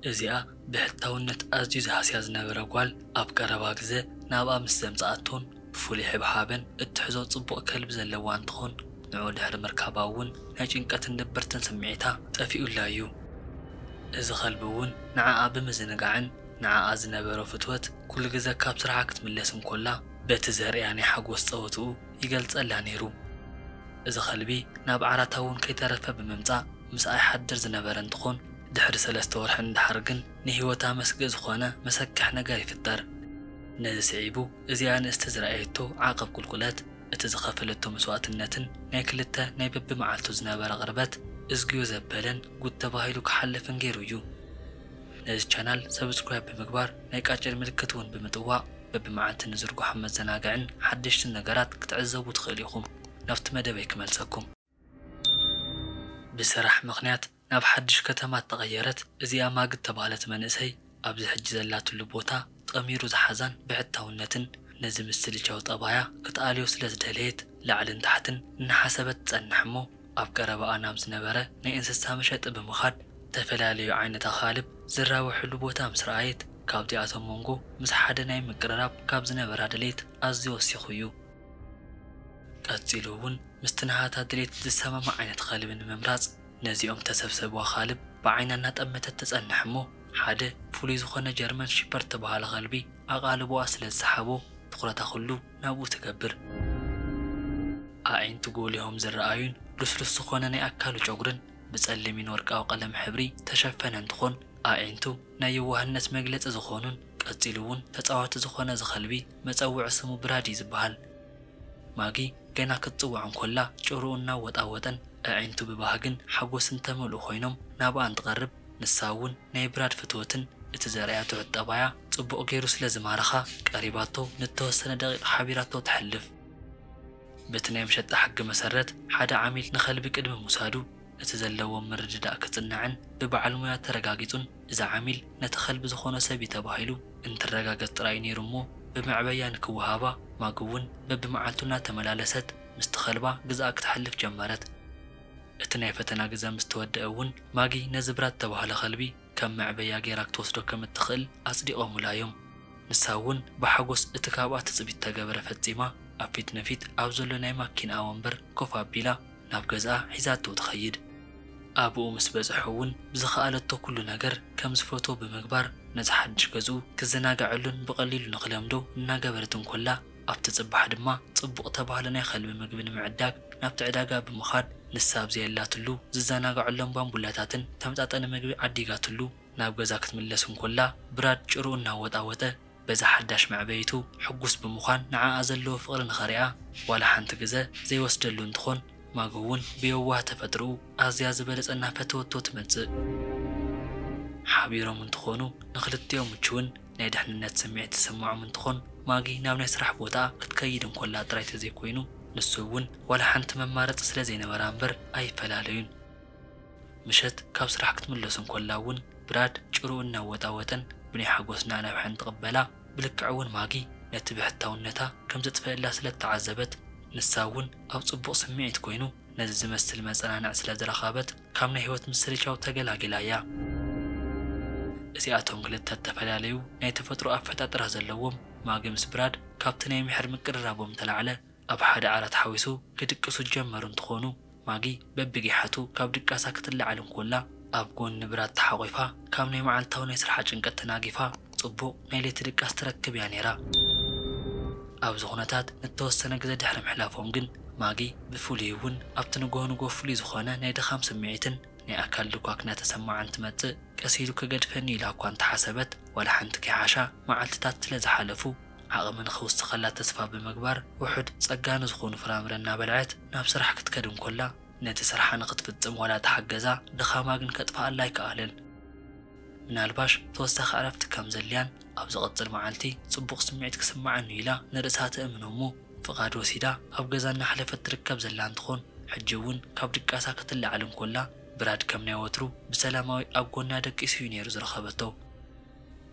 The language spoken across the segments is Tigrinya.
እዚኣ ብሕታውነት ኣዝዩ ዝሃስያ ዝነበረ ጓል ኣብ ቀረባ ግዘ ናብኣ ምስ ዘምፀኣቶን ብፍሉይ ሕብሓብን እትሕዞ ፅቡቕ ከልቢ ዘለዋ እንትኾን ንዑ ድሕሪ ምርካባ እውን ናይ ጭንቀትን ድብርትን ስምዒታ ጠፊኡላ እዩ። እዚ ከልቢ እውን ንዓኣ ብምዝንጋዕን ንዓኣ ዝነበሮ ፍትወት ኩሉ ግዘ ካብ ስርሓ ክትምለስ እንኮላ በቲ ዘርእያ ናይ ሓጎስ ፀወትኡ ይገልጸላ ነይሩ። እዚ ከልቢ ናብ ዓራታ እውን ከይተረፈ ብምምጻእ ምስኣ ይሓድር ዝነበረ እንትኾን ድሕሪ ሰለስተ ወርሒ ንደሓር ግን ንህይወታ መስግእ ዝኾነ መሰክሕ ነገር ይፍጠር። ነዚ ስዒቡ እዚኣ ንእስቲ ዝረኣየቶ ዓቐብ ቁልቁለት፣ እቲ ዝኸፈለቶ መስዋእትነትን ናይ ክልተ ናይ በብመዓልቱ ዝነበረ ቅርበት እዝግዮ ዘበለን ጉድ ተባሂሉ ክሓልፍን ገይሩ እዩ። ነዚ ቻናል ሰብስክራይብ ብምግባር ናይ ቃጭል ምልክት እውን ብምጥዋቕ በብመዓልቲ ንዝርግሖም መዘናግዕን ሓደሽትን ነገራት ክትዕዘቡ ትኽእሉ ኢኹም። ናብቲ መደበይ ክመልሰኩም። ብስራሕ ምኽንያት ናብ ሓድሽ ከተማ እተቐየረት እዚኣ ማግ እተባህለት መንእሰይ፣ ኣብዚ ሕጂ ዘላትሉ ቦታ ጠሚሩ ዝሓዛን ብሕታውነትን ነዚ ምስልቻው ጠባያ ክትኣልዮ ስለ ዝደለየት ላዕልን ታሕትን እናሓሰበት ትጸንሕ እሞ፣ ኣብ ቀረባኣ ናብ ዝነበረ ናይ እንስሳ መሸጢ ብምኻድ ዝተፈላለዩ ዓይነት ኣኻልብ ዝራበሕሉ ቦታ ምስ ረኣየት ካብዚኣቶም ሞንጎ ምስ ሓደ ናይ ምቅርራብ ካብ ዝነበራ ድሌት ኣዝዩ ወሲኹ እዩ። ቀጺሉ እውን ምስቲ ናሃታ ድሌት ዝሰማማዕ ዓይነት ኸልቢ ንምምራጽ ነዚኦም ዝተሰብሰቡ ኣኻልብ ብዓይና እናጠመተት ትጸንሕ እሞ ሓደ ፍሉይ ዝኾነ ጀርመን ሺፐርድ ዝተብሃለ ኸልቢ ኣቓልቦኣ ስለ ዝሰሓቦ ትኹረታ ኹሉ ናብኡ ትገብር። ኣዒንቱ ጎሊሆም ዝረኣዩን ልስሉስ ዝኾነ ናይ ኣካሉ ጨጉርን ብጸሊምን ወርቃዊ ቀለም ሕብሪ ተሸፈነ እንትኾን ኣዒንቱ ናይ የዋህነት መግለጺ ዝኾኑን ቀጺሉ እውን ተጻዋቲ ዝኾነ እዚ ከልቢ መጸውዒ ስሙ ብራዲ ዝበሃል ማጊ ገና ክትጽዋዕ እንኮላ ጭርኡ እናወጣወጠን ኣዒንቱ ብባህግን ሓጎስን ዝተመልኡ ኮይኖም ናብኣ እንትቐርብ ንሳ እውን ናይ ብራድ ፍትወትን እቲ ዘርእያ ትሑት ጠባያ ጽቡቕ ጌሩ ስለ ዝማረኻ ቀሪባቶ ንእተወሰነ ደቒቕ ሓቢራቶ ተሕልፍ። በቲ ናይ መሸጣ ሕጊ መሰረት ሓደ ዓሚል ንኸልቢ ቅድሚ ምውሳዱ እቲ ዘለዎም ምርድዳእ ክጽናዕን ብበዓል ሞያ ተረጋጊጹን እዚ ዓሚል ነቲ ኸልቢ ዝኾኖ ሰብ'ዩ ተባሂሉ እንትረጋገጽ ጥራይ'ዩ ኔሩ እሞ ብመዕበያ ንክወሃባ ማግ'ውን በብመዓልቱ እናተመላለሰት ምስቲ ኸልባ ግዝኣ ክትሕልፍ ጀመረት። እቲ ናይ ፈተና ግዘ ምስ ተወድኣ'ውን ማጊ ነዚ ብራ እተባህለ ኸልቢ ከም መዕበያ ገይራ ክትወስዶ ከም እትኽእል ኣጽዲቖሙላ እዮም። ንሳ እውን ብሓጐስ እቲ ካብኣ ትጽቢት እተገብረ ፈጺማ፣ ኣብ ፊት ንፊት ኣብ ዘሎ ናይ ማኪንኣ ወንበር ኮፍ ኣቢላ ናብ ገዝኣ ሒዛቶ ትኸይድ። ኣብኡ ምስ በጽሑ እውን ብዝኸኣለቶ ኩሉ ነገር ከም ዝፈትዎ ብምግባር ነቲ ሓድሽ ገዝኡ ክዘናገዐሉን ብቐሊሉ ንኽለምዶ እናገበረት እንኮላ፣ ኣብቲ ጽባሕ ድማ ጽቡቕ እተባህለ ናይ ኸልቢ ምግቢ ንምዕዳግ ናብቲ ዕዳጋ ብምኻድ ንሳ ኣብ ዘየላትሉ ዝዘናጋዑሎም ባምቡላታትን ተመጣጣኒ ምግቢ ዓዲጋትሉ ናብ ገዛ ክትምለስ እንኮላ ብራድ ጭርኡ እናወጣወጠ በዛ ሓዳሽ መዕበይቱ ሕጉስ ብምዃን ንዓኣ ዘለዎ ፍቕሪ ንኸርኣ ዋላ ሓንቲ ግዘ ዘይወስደሉ እንትኾን ማጎ እውን ብየዋህ ተፈጥርኡ ኣዝያ ዝበለጸ እናፈተወቶ ትመጽእ። ሓቢሮም እንትኾኑ ንኽልቲኦም ምቹውን ናይ ድሕንነት ስምዒት ዝስምዖም እንትኾን፣ ማጊ ናብ ናይ ስራሕ ቦታኣ ክትከይድ እንኮላ ጥራይ ተዘይኮይኑ ንሱ እውን ዋላ ሓንቲ መማረፂ ስለዘይነበራ እምበር ኣይፈላለዩን። ምሸት ካብ ስራሕ ክትምለስ እንኮላ እውን ብራድ ጭርኡ እናወጣወጠን ብናይ ሓጎስ ናዕናብሐን ትቕበላ። ብልክዕ እውን ማጊ ነቲ ብሕታውነታ ከምዘጥፈእላ ስለእተዓዘበት ንሳ እውን ኣብ ፅቡቕ ስምዒት ኮይኑ ነዚ ዝመስል መፀናንዒ ስለዝረኸበት፣ ካብ ናይ ህይወት ምስልቻው ተገላጊላ እያ። እዚኣቶም ክልተ እተፈላለዩ ናይ ተፈጥሮ ኣፈጣጥራ ዘለዎም፣ ማጊ ምስ ብራድ ካብቲ ናይ ምሕር ምቅርራቦም እተላዕለ ኣብ ሓደ ዓራት ሓዊሱ ክድቅሱ ዝጀመሩ እንትኾኑ፣ ማጊ በብጊሓቱ ካብ ድቃሳ ክትላዓል እንኮላ ኣብ ጎኒ ብራድ ተሓቚፋ ካብ ናይ መዓልታዊ ናይ ስርሓ ጭንቀት ተናጊፋ ጽቡቕ ናይ ለይቲ ድቃስ ትረክብ እያ ነይራ። ኣብዚ ዅነታት ንእተወሰነ ግዜ ድሕሪ ምሕላፎም ግን፣ ማጊ ብፍሉይ እውን ኣብቲ ንግሆ ንግሆ ፍሉይ ዝዀነ ናይ ድኻም ስምዒትን ናይ ኣካል ድኳክ እናተሰምዓን ትመጽእ። ቀስ ኢሉ ኪገድፈኒ እዩ ኢላ እኳ እንተ ሓሰበት፣ ዋላ ሓንቲ ከይሓሻ መዓልትታት ስለ ዝሓለፉ፣ ዓቕሚ ንኺውስኸላ ተስፋ ብምግባር፣ ውሑድ ጸጋ ንዝዀኑ ፍራምረ እናበልዐት ናብ ስራሕ ክትከድ እንከላ፣ ነቲ ስርሓ ንኽትፍጽም ዋላ ተሓገዛ፣ ድኻማ ግን ከጥፍኣላ ኣይከኣለን። ምናልባሽ ተወሳኺ ዕረፍቲ ከም ዘድልያን ኣብ ዝቕጽል መዓልቲ ጽቡቕ ስምዒት ክስምዓኒ'ዩ ኢላ ንርእሳ ተእምኖ'ሞ ፍቓድ ወሲዳ ኣብ ገዛ እናሕለፈት ትርከብ ዘላ እንትኾን ሕጂ'ውን ካብ ድቃሳ ክትለዓል እንኮላ ብራድ ከም ናይ ወትሩ ብሰላማዊ ኣብ ጎና ደቂሱ'ዩ ነይሩ ዝረኸበቶ።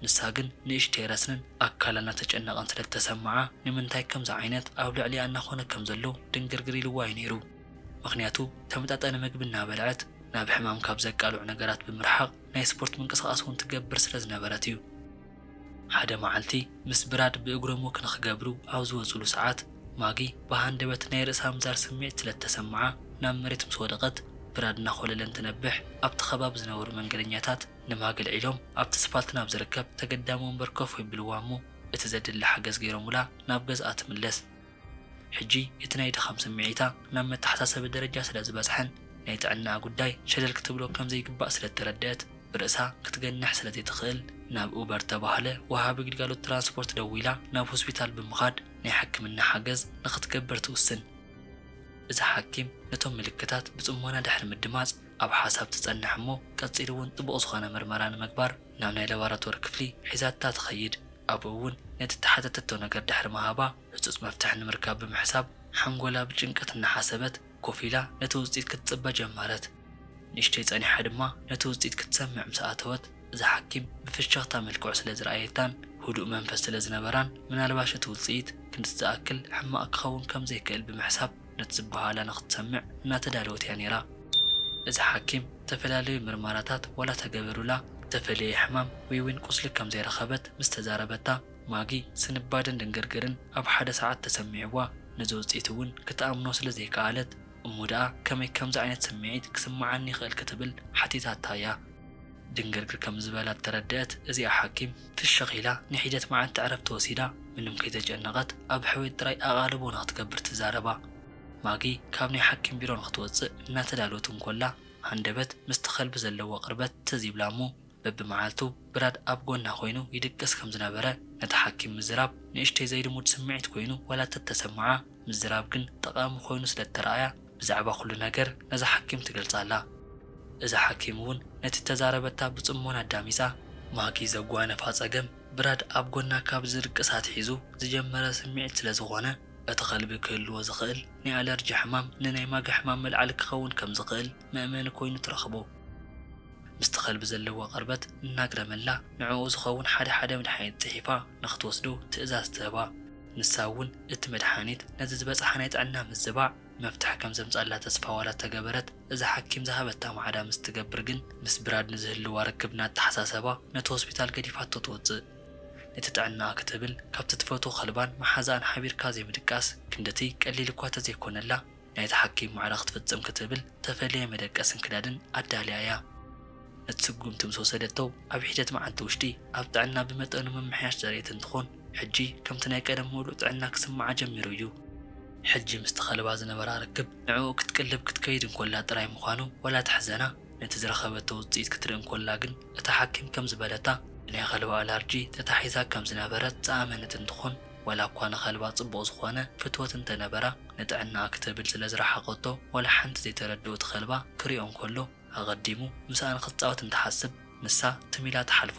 ንሳ ግን ንእሽተይ ረስንን ኣካላ እናተጨነቐን ስለ ዝተሰምዓ ንምንታይ ከምዚ ዓይነት ኣብ ልዕሊኣ እናኾነ ከም ዘሎ ድንግርግር ኢልዋ'ዩ ነይሩ። ምኽንያቱ ተመጣጣኒ ምግቢ እናበልዐት ናብ ሕማም ካብ ዘቃልዑ ነገራት ብምርሓቕ ናይ ስፖርት ምንቅስቓስ እውን ትገብር ስለ ዝነበረት እዩ። ሓደ መዓልቲ ምስ ብራድ ብእግሮም ወክ ንኽገብሩ ኣብ ዝወፅሉ ሰዓት፣ ማጊ ብሃንደበት ናይ ርእሳ ምዛር ስምዒት ስለ እተሰምዓ ናብ መሬት ምስ ወደቐት፣ ብራድ እናኾለለ እንትነብሕ ኣብቲ ከባቢ ዝነበሩ መንገደኛታት ንማጊ ኣልዒሎም ኣብቲ ስፋልት ናብ ዝርከብ ተገዳሚ ወንበር ኮፍ የብልዋ እሞ እቲ ዘድሊ ሓገዝ ገይሮሙላ ናብ ገዝኣ ትምለስ። ሕጂ እቲ ናይ ድኻም ስምዒታ ናብ መተሓሳሰቢ ደረጃ ስለ ዝበጽሐን ናይ ጥዕናኣ ጉዳይ ሸለል ክትብሎ ከም ዘይግባእ ስለ እተረድኣት ብርእሳ ክትገንሕ ስለ ዘይትኽእል ናብ ኡበር እተባህለ ወሃቢ ግልጋሎት ትራንስፖርት ደዊላ ናብ ሆስፒታል ብምኻድ ናይ ሕክምና ሓገዝ ንኽትገብር ትውስን። እዛ ሓኪም ነቶም ምልክታት ብጽሞና ድሕሪ ምድማጽ ኣብ ሓሳብ ትጸንሕ እሞ ቀጺሉ'ውን ጥቡቕ ዝኾነ ምርመራ ንምግባር ናብ ናይ ለባራቶሪ ክፍሊ ሒዛታ ትኸይድ። ኣብኡ እውን ነቲ እተሓተተቶ ነገር ድሕሪ ምሃባ ህጹጽ መፍትሒ ንምርካብ ብምሕሳብ ሓንጎላ ብጭንቀት እናሓሰበት ኮፍ ኢላ ነቲ ውጽኢት ክትጽበ ጀመረት። ንእሽተይ ጸኒሓ ድማ ነቲ ውጽኢት ክትሰምዕ ምስ ኣተወት እዛ ሓኪም ብፍሽኽታ መልክዑ ስለ ዝረኣየታን ህዱእ መንፈስ ስለ ዝነበራን ምናልባሽ እቲ ውጽኢት ክንድዚ ዝኣክል ሕማቕ ክኸውን ከም ዘይክእል ብምሕሳብ ነቲ ዝበሃላ ንክትሰምዕ እናተዳለወት እያ ነይራ። እዛ ሓኪም ዝተፈላለዩ ምርመራታት ዋላ ተገበሩላ ዝተፈለየ ሕማም ወይ'ውን ቁስሊ ከም ዘይረኸበት ምስ ተዛረበታ፣ ማጊ ስንባደን ድንግርግርን ኣብ ሓደ ሰዓት ተሰሚዕዋ። ነዚ ውጽኢት እውን ክትኣምኖ ስለ ዘይከኣለት፣ እሞ ደኣ ከመይ ከምዚ ዓይነት ስምዒት ክስምዓኒ ይኽእል ክትብል ሓቲታታ እያ። ድንግርግር ከም ዝበላ እተረደኣት እዚኣ ሓኪም፣ ፍሽኽ ኢላ ንሒደት መዓልቲ ዕረፍቲ ወሲዳ፣ ምንም ከይተጨነቐት ኣብ ሕውየት ጥራይ ኣቓልቦ ንኽትገብር ትዛረባ። ማጊ ካብ ናይ ሓኪም ቢሮ ንኽትወጽእ እናተዳለወት እንኮላ፣ ሃንደበት ምስቲ ከልቢ ዘለዋ ቅርበት ትዝ ይብላ እሞ፣ በብመዓልቱ ብራድ ኣብ ጎና ኮይኑ ይድቅስ ከም ዝነበረ ነታ ሓኪም ምዝራብ ንእሽተይ ዘይልሙድ ስምዒት ኮይኑ ዋላ እተተሰምዓ፣ ምዝራብ ግን ጠቓሚ ኮይኑ ስለ እተረኣያ፣ ብዛዕባ ኩሉ ነገር ነዛ ሓኪም ትገልጻላ። እዛ ሓኪም እውን ነቲ እተዛረበታ ብጽሞና ኣዳሚጻ፣ ማጊ ዘጓነፋ ጸገም ብራድ ኣብ ጎና ካብ ዝድቅስ ኣትሒዙ ዝጀመረ ስምዒት ስለ ዝዀነ፣ እቲ ኸልቢ ክህልዎ ዝኽእል ናይ ኣለርጂ ሕማም ንናይ ማጊ ሕማም መልዓሊ ክኸውን ከም ዝኽእል መእመኒ ኰይኑ ትረኽቦ። ምስቲ ኸልቢ ዘለዋ ቕርበት እናግረመላ፣ ንዕኡ ዝኸውን ሓደ ሓደ መድሓኒት ጽሒፋ ንኽትወስዶ ትእዛዝ ትህባ። ንሳ እውን እቲ መድሓኒት ነዚ ዝበፅሓ ናይ ጥዕና ምዝባዕ መፍትሒ ከም ዘምፅኣላ ተስፋ ዋላ እተገበረት፣ እዛ ሓኪም ዝሃበታ ማዕዳ ምስ እትገብር ግን ምስ ብራድ ንዝህልዋ ርክብ እናተሓሳሰባ ነቲ ሆስፒታል ገዲፋቶ ትወፅእ። ነቲ ጥዕናኣ ክትብል ካብቲ እትፈትዎ ከልባን መሓዛኣን ሓቢርካ ዘይምድቃስ ክንድቲ ቀሊል እኳ እተዘይኮነላ፣ ናይቲ ሓኪም ማዕረ ክትፍጽም ክትብል እተፈልየ መደቀስን ክዳንን ኣዳልያ እያ። ነቲ ስጉምቲ ምስ ወሰደቶ ኣብ ሒደት መዓልቲ ውሽጢ ኣብ ጥዕና ብመጠኑ ምምሕያሽ ዘርእየት እንትኾን ሕጂ ከምቲ ናይ ቀደም ምሉእ ጥዕና ክስምዓ ጀሚሩ እዩ። ሕጂ ምስቲ ከልባ ዝነበራ ርክብ ንዕኡ ክትቅልብ ክትከይድ እንኮላ ጥራይ ምዃኑ ዋላ ተሕዘና ነቲ ዝረኸበቶ ውጽኢት ክትርኢ እንኮላ ግን እታ ሓኪም ከም ዝበለታ ብናይ ከልባ ኣላርጂ ተታሒዛ ከም ዝነበረት ዝኣመነት እንትኾን፣ ዋላ እኳ ንኸልባ ጽቡቕ ዝኾነ ፍትወት እንተ ነበራ፣ ንጥዕናኣ ክትብል ስለ ዝረሓቐቶ፣ ዋላ ሓንቲ ዘይተረድኦ እቲ ኸልባ ክሪኦ እንከሎ፣ ኣቐዲሙ ምስኣ ንኽትጻወት እንትሓስብ፣ ንሳ ትም ኢላ ትሓልፎ።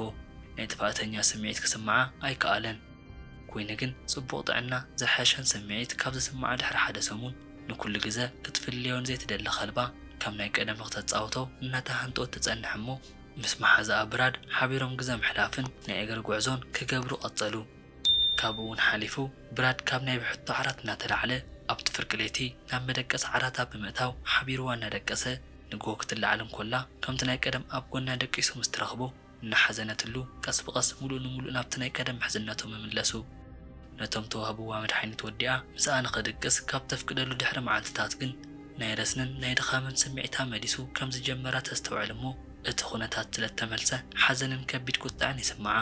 ናይ ጥፍኣተኛ ስምዒት ክስምዓ ኣይከኣለን። ኩይኑ ግን ጽቡቕ ጥዕና ዝሐሸን ስምዒት ካብ ዝስምዓ ድሕሪ ሓደ ሰሙን፣ ንኩሉ ግዘ ክትፍልዮ ንዘይትደሊ ኸልባ ከም ናይ ቀደም ንኽተጻውቶ እናተሃንጠወት ትጸንሕ እሞ፣ ምስ መሓዝኣ ብራድ ሓቢሮም ግዘ ምሕላፍን ናይ እግሪ ጉዕዞን ክገብሩ ቀጸሉ። ካብኡ'ውን ሓሊፉ ብራድ ካብ ናይ ብሕቶ ዓራት እናተላዕለ ኣብቲ ፍርቂ ለይቲ ናብ መደቀሲ ዓራታ ብምእታው ሓቢሩዋ እናደቀሰ ንግሆ ክትለዓል እንኮላ ከምቲ ናይ ቀደም ኣብ ጎና ደቂሱ ምስ ትረኽቦ እናሓዘነትሉ ቀስ ብቐስ ምሉእ ንምሉእ ናብቲ ናይ ቀደም ምሕዝነቱ ምምለሱ ነቶም ተዋህቡዋ መድሓኒት ወዲኣ ምስኣ ንኽድቅስ ካብ ተፍቅደሉ ድሕሪ መዓልትታት ግን ናይ ረስንን ናይ ድኻምን ስምዒታ መሊሱ ከም ዝጀመራ ተስተውዕል እሞ እቲ ኩነታት ስለ እተመልሰ ሓዘንን ከቢድ ቁጥዐን ይስምዓ።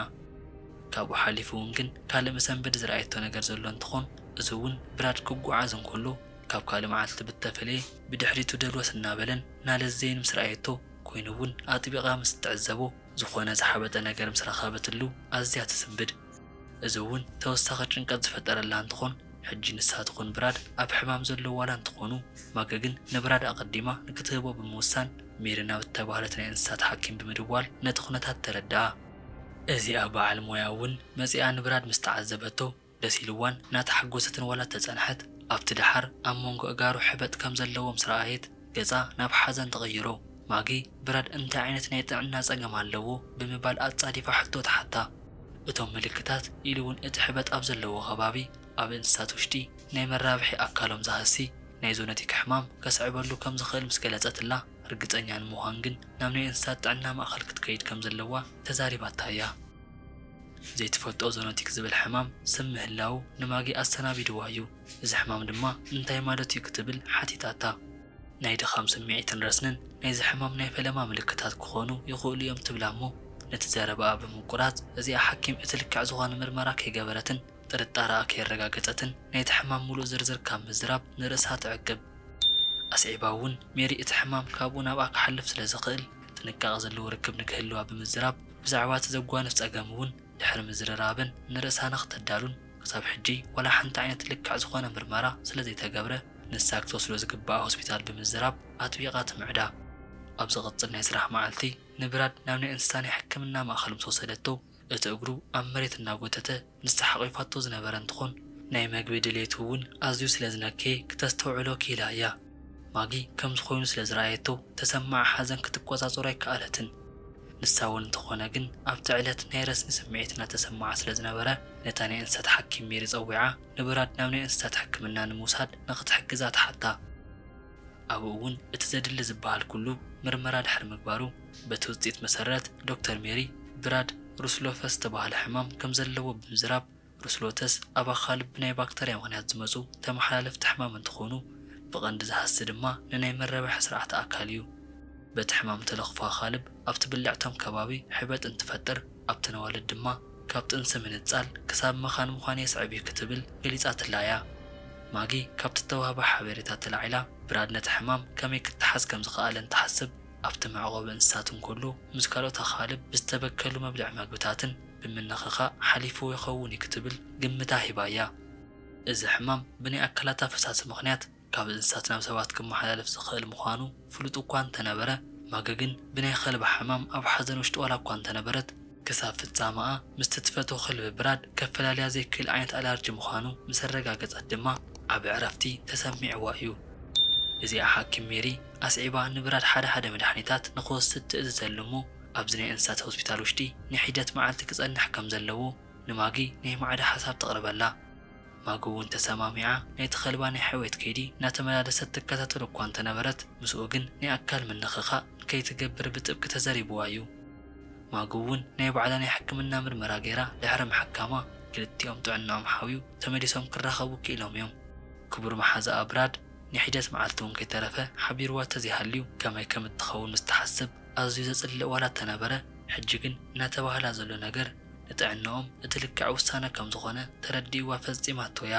ካብኡ ሓሊፉ እውን ግን ካልእ መሰንበዲ ዝረኣየቶ ነገር ዘሎ እንትኾን እዚ እውን ብራድ ክጉዓዝ እንከሎ ካብ ካልእ መዓልቲ ብተፈለየ ብድሕሪቱ ደልወስ እናበለን እናለዘየን ምስ ረኣየቶ ኮይኑ እውን ኣጥቢቓ ምስ እትዕዘቦ ዝኾነ ዝሓበጠ ነገር ምስ ረኸበትሉ ኣዝያ ትስንብድ። እዚ እውን ተወሳኺ ጭንቀት ዝፈጠረላ እንትኾን ሕጂ ንሳ ትኹን ብራድ ኣብ ሕማም ዘለዉ ዋላ እንተኾኑ ማገ ግን ንብራድ ኣቐዲማ ንክትህቦ ብምውሳን ሜሪ ናብ እተባህለት ናይ እንስሳት ሓኪም ብምድዋል ነቲ ኩነታት ተረድኣ። እዚኣ በዓል ሞያ እውን መጺኣ ንብራድ ምስ ተዓዘበቶ ደስ ኢልዋን እናተሓጎሰትን ዋላ እተጸንሐት፣ ኣብቲ ደሓር ኣብ መንጎ ኣእጋሩ ሕበጥ ከም ዘለዎ ምስ ረኣየት ገጻ ናብ ሓዘን ተቐይሮ። ማጊ፣ ብራድ እንታይ ዓይነት ናይ ጥዕና ጸገም ኣለዎ? ብምባል ኣጻዲፋ ሕቶ ትሓታ። እቶም ምልክታት ኢሉ እውን እቲ ሕበጥ ኣብ ዘለዎ ከባቢ ኣብ እንስሳት ውሽጢ ናይ መራብሒ ኣካሎም ዝሃሲ ናይ ዞነቲክ ሕማም ከስዕበሉ ከም ዝኽእል ምስ ገለጸትላ፣ ርግጸኛ ንምዃን ግን ናብ ናይ እንስሳት ጥዕና ማእከል ክትከይድ ከም ዘለዋ ተዛሪባታ እያ። ዘይትፈልጦ ዞኖቲክ ዝብል ሕማም ስም ምህላዉ ንማጊ ኣሰናቢድዋ እዩ። እዚ ሕማም ድማ እንታይ ማለት እዩ ክትብል ሓቲታታ። ናይ ድኻም ስምዒትን ረስንን ናይዚ ሕማም ናይ ፈለማ ምልክታት ክኾኑ ይኽእሉ እዮም ትብላ እሞ ነቲ ዘረባኣ ብምቁራጽ እዚኣ ሓኪም እቲ ልክዕ ዝኾነ ምርመራ ከይገበረትን ጥርጣረኣ ከየረጋገጸትን ናይቲ ሕማም ምሉእ ዝርዝር ካብ ምዝራብ ንርእሳ ትዕቅብ። ኣስዒባ እውን ሜሪ እቲ ሕማም ካብኡ ናብኣ ክሓልፍ ስለ ዝኽእል ጥንቃቐ ዘለዎ ርክብ ንክህልዋ ብምዝራብ ብዛዕባ እቲ ዘጓንፍ ጸገም እውን ድሕሪ ምዝርራበን ንርእሳ ንኽተዳሉን ክሳብ ሕጂ ዋላ ሓንቲ ዓይነት ልክዕ ዝኾነ ምርመራ ስለ ዘይተገብረ ንሳ ክትወስዶ ዝግብኣ ሆስፒታል ብምዝራብ ኣጥቢቓ ትምዕዳ። ኣብ ዝቕጽል ናይ ስራሕ መዓልቲ ንብራድ ናብ ናይ እንስሳ ናይ ሕክምና ማእከል ምስ ወሰደቶ፣ እቲ እግሩ ኣብ መሬት እናጎተተ ምስ ተሓቚፋቶ ዝነበረ እንትኾን ናይ መግቢ ድሌቱ እውን ኣዝዩ ስለ ዝነከየ ክተስተውዕሎ ክኢላ እያ። ማጊ ከምዚ ኮይኑ ስለ ዝረኣየቶ ተሰማዓ ሓዘን ክትቆጻጸሮ ኣይከኣለትን። ንሳ እውን እንተኾነ ግን ኣብቲ ዕለት ናይ ረስኒ ስምዒት እናተሰማዓ ስለ ዝነበረ ነታ ናይ እንስሳት ሓኪም ሜሪ ጸዊዓ ንበራድ ናብ ናይ እንስሳት ሕክምና ንምውሳድ ንኽትሕግዛ ትሓታ። ኣብኡ እውን እቲ ዘድሊ ዝበሃል ኩሉ ምርመራ ድሕሪ ምግባሩ፣ በቲ ውጽኢት መሰረት፣ ዶክተር ሜሪ ብራድ ሩስሎፈስ ዝተባህለ ሕማም ከም ዘለዎ ብምዝራብ፣ ሩስሎተስ ኣብ ኣኻልብ ብናይ ባክተርያ ምኽንያት ዝመጹ ተመሓላለፍቲ ሕማም እንትኾኑ፣ ብቐንዲ ዝሃሲ ድማ ንናይ መረባሒ ስርዓተ ኣካል እዩ። በቲ ሕማም እተለኽፎ ኣኻልብ ኣብቲ ብልዕቶም ከባቢ ሕበጥ እንትፈጥር፣ ኣብቲ ነዋልድ ድማ ካብ ጥንሲ ምንጻል ክሳብ መኻን ምዃን የስዕብ እዩ ክትብል ገሊጻትላ እያ። ማጊ ካብቲ እተዋህባ ሓበሬታ ተላዒላ፣ ብራድ ነቲ ሕማም ከመይ ክተሓዝ ከም ዝኸኣለን ትሓስብ። ኣብቲ መዕቆቢ እንስሳት እንከሎ ምስ ካልኦት ኣኻልብ ብዝተበከሉ መብልዒ መግብታትን ብምንኽኻእ ሓሊፍዎ ይኸውን'ዩ ክትብል ግምታ ሂባ'ያ። እዚ ሕማም ብናይ ኣካላታ ፈሳሲ ምኽንያት ካብ እንስሳት ናብ ሰባት ክመሓላለፍ ዝኽእል ምዃኑ ፍሉጥ'ኳ እንተነበረ፣ ማገ ግን ብናይ ኸልባ ሕማም ኣብ ሓዘን ውሽጢ ዋላ'ኳ እንተነበረት፣ ክሳብ ፍጻመኣ ምስቲ ትፈትዎ ክልቢ ብራድ ከፈላልያ ዘይክእል ዓይነት ኣላርጂ ምዃኑ ምስ ኣረጋገጸት ድማ ዓቢ ዕረፍቲ ተሰሚዕዋ እዩ። እዚኣ ሓኪም ሜሪ ኣስዒባ ንብራድ ሓደ ሓደ መድሓኒታት ንኽወስድ ትእዝዘሉ እሞ ኣብዚ ናይ እንስሳት ሆስፒታል ውሽጢ ንሒደት መዓልቲ ክጸንሕ ከም ዘለዎ ንማጊ ናይ ማዕዳ ሓሳብ ተቕርበላ። ማጊ እውን ተሰማሚዓ ናይቲ ከልባ ናይ ሕውየት ከይዲ እናተመላለሰት ትከታተሎ እኳ እንተነበረት ምስኡ ግን ናይ ኣካል ምንኽኻእ ንከይትገብር ብጥብቂ ተዘሪብዋ እዩ። ማጉ እውን ናይ ባዕላ ናይ ሕክምና ምርመራ ገይራ ድሕሪ ምሕካማ ክልቲኦም ጥዕንኦም ሓውዩ ተመሊሶም ክራኸቡ ክኢሎም እዮም። ክቡር መሓዛኣ ብራድ ንሒደት መዓልቲ እውን ከይተረፈ ሓቢሩዋ ተዘይሃልዩ ከመይ ከም እትኸውን ምስ ትሓስብ ኣዝዩ ዘጽልእ ዋላ እተነበረ ሕጂ ግን እናተባህላ ዘሎ ነገር ንጥዕንኦም እቲ ልክዕ ውሳነ ከም ዝኾነ ተረዲኡዋ ፈጺማቶ እያ።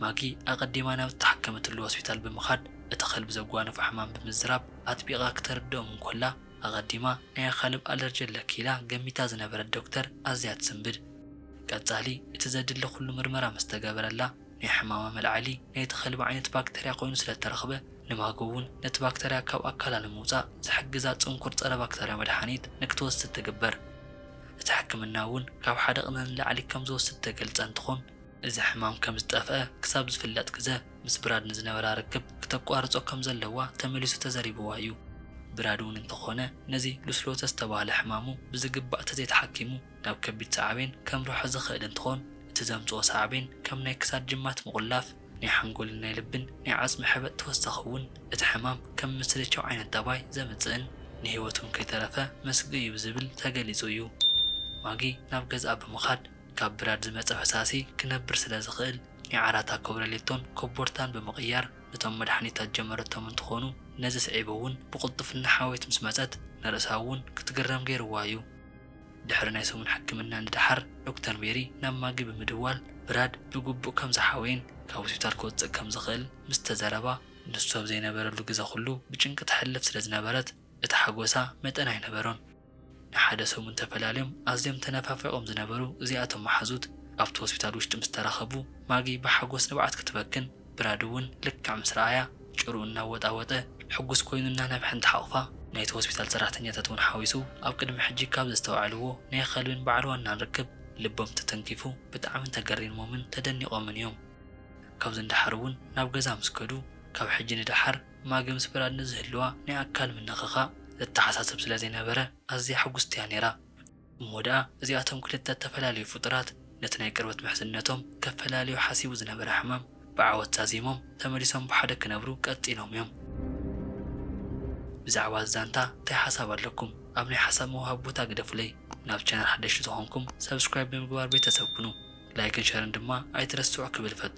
ማጊ ኣቐዲማ ናብ እተሓከመትሉ ሆስፒታል ብምኻድ እቲ ከልቢ ዘጓንፎ ሕማም ብምዝራብ ኣጥቢቓ ክተርድኦም እንኮላ፣ ኣቐዲማ ናይ ኣኻልብ ኣለርጂ ኣለኪ ኢላ ገሚታ ዝነበረት ዶክተር ኣዝያ ትስንብድ። ንቀጻሊ እቲ ዘድሊ ኩሉ ምርመራ ምስ ተገበረላ፣ ናይ ሕማማ መልዓሊ ናይቲ ከልቢ ዓይነት ባክተርያ ኮይኑ ስለ እተረኽበ፣ ንማጎ እውን ነቲ ባክተርያ ካብ ኣካላ ንምውጻእ ዝሕግዛ ጽንኩር ጸረ-ባክተርያ መድሓኒት ንክትወስድ ትግበር። እቲ ሕክምና እውን ካብ ሓደ ቅነ ንላዕሊ ከም ዝወስድ እተገልጸ እንትኾን፣ እዚ ሕማም ከም ዝጠፍኣ ክሳብ ዝፍለጥ ግዘ ምስ ብራድ ንዝነበራ ርክብ ክተቋርፆ ከም ዘለዋ ተመሊሱ ተዘሪብዋ እዩ። ብራድ እውን እንተኾነ ነዚ ሉስሎተ ዝተብሃለ ሕማሙ ብዝግባእ ተዘይተሓኪሙ ናብ ከቢድ ሳዕቤን ከምርሖ ዝኽእል እንትኾን እቲ ዘምፅኦ ሳዕቤን ከም ናይ ክሳድ ጅማት ምቑላፍ፣ ናይ ሓንጎልን ናይ ልብን ናይ ዓፅሚ ሕበጥ ተወሳኺ እውን እቲ ሕማም ከም ምስልቻው ዓይነት ጠባይ ዘምፅእን ንህይወት እውን ከይተረፈ መስግኢ እዩ ዝብል ተገሊፁ እዩ። ማጊ ናብ ገዝኣ ብምኻድ። ካብ ብራድ ዝመጸ ፈሳሲ ክነብር ስለ ዝኽእል ኒዓራታ ኮብረሌቶን ኮቦርታን ብምቕያር ነቶም መድሓኒታት ጀመረቶም እንትኾኑ ነዚ ስዒቡ እውን ብቕልጡፍና ሓወይት ምስ መጸት ንርእሳ እውን ክትግረም ገይርዋ እዩ። ድሕሪ ናይ ሰሙን ሕክምና ንደሓር ዶክተር ሜሪ ናብ ማጊ ብምድዋል ብራድ ብግቡእ ከም ዝሓወየን ካብ ሆስፒታል ክወጽእ ከም ዝኽእል ምስ ተዘረባ ንሱ ኣብ ዘይነበረሉ ግዘ ኩሉ ብጭንቂ ተሕልፍ ስለ ዝነበረት እቲ ሓጎሳ መጠን ኣይነበሮን። ንሓደ ሰሙን ተፈላልዮም ኣዝዮም ተነፋፊቖም ዝነበሩ እዚኣቶም መሓዙት ኣብቲ ሆስፒታል ውሽጢ ምስ ተራኸቡ ማጊ ብሓጎስ ንብዓት ክትበክን ብራድ እውን ልክዕ ምስ ረኣያ ጭርኡ እናወጣወጠ ሕጉስ ኮይኑ እናነብሐ እንትሓቑፋ ናይቲ ሆስፒታል ሰራሕተኛታት እውን ሓዊሱ ኣብ ቅድሚ ሕጂ ካብ ዘስተውዐልዎ ናይ ኸልቢን በዓል ዋናን ርክብ ልቦም ተተንኪፉ ብጣዕሚ ተገሪሞምን ተደኒቖምን እዮም። ካብዚ ንደሓር እውን ናብ ገዛ ምስ ከዱ ካብ ሕጂ ንደሓር ማግምስ ብራድ ንዝህልዋ ናይ ኣካል ምንኽኻእ ዘተሓሳስብ ስለ ዘይነበረ ኣዝያ ሕጉስቲ እያ ነይራ። እሞ ደኣ እዚኣቶም ክልተ እተፈላለዩ ፍጡራት ነቲ ናይ ቅርበት ምሕዝነቶም ከፈላልዮ ሓሲቡ ዝነበረ ሕማም ብዓወት ዛዚሞም ተመሊሶም ብሓደ ክነብሩ ቀጺሎም እዮም። ብዛዕባ እዚ ዛንታ እንታይ ሓሳብ ኣለኩም? ኣብ ናይ ሓሳብ ምውሃብ ቦታ ግደፉለይ። ናብ ቻነል ሓደሽቲ ዝኾንኩም subscribe ብምግባር ቤተሰብ ኩኑ። ላይክን ሸርን ድማ ኣይትረስዑ ክብል እፈቱ።